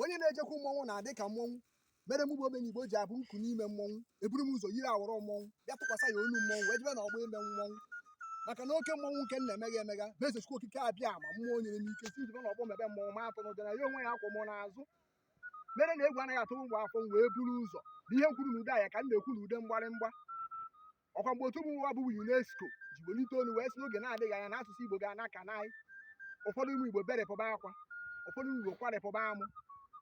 onye na-ejekwu mmọnwụ na-adị ka mmọnwụ mere mụ bụ omenigbo ji abụ nkụ n'ime mmọnwụ eburu m ụzọ yiri awọrọ mmọnwụ bịa tụkwasị ya olu mmọnwụ wee jebe na ọgbọ ime mmọnwụ maka na oke mmọnwụ nke na-emegha emegha bụ eze chukwu okike abịama mmụọ nyere m ike sị jebe na ọgbọ mebe mmọnwụ ma atụna ụjọ na ya onwe ya kwụ m n'azụ mere na egwu anaghị atụ m bụ afọ m wee buru ụzọ na ihe m kwuru na ude anya ka m na-ekwu na ude mgbarịmgba ọkwa mgbe otu mba ụwa bụ UNESCO ji welite olu wee sị n'oge na-adịghị anya na asụsụ Igbo ga-ana ka naị ụfọdụ ụmụ Igbo berepụba akwa ụfọdụ ụmụ Igbo kwarịpụba amụ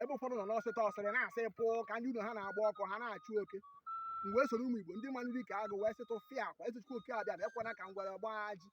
ebe ụfọdụ nọ n'ọsịta ọsịrị na-asị pụọ ka ndị ụlọ ha na-agba ọkụ ha na-achụ oke m wee soro ụmụ Igbo ndị manụ dike agụ wee sị tụfịakwa eze chukwu oke abịama ekwena ka ngwere gbaa ajị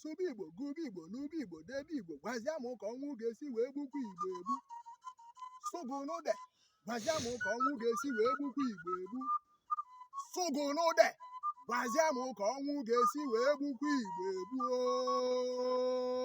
sụba igbo gụba igbo nụba igbo debe igbo gwazia m ka ọnwụ ga-esi wee gbukwa igbo egbu sụgụnụde gwazia m ka ọnwụ ga-esi wee gbukwa igbo egbu sụgụnụde gwazia m ka ọnwụ ga-esi wee gbukwa igbo egbu ooo.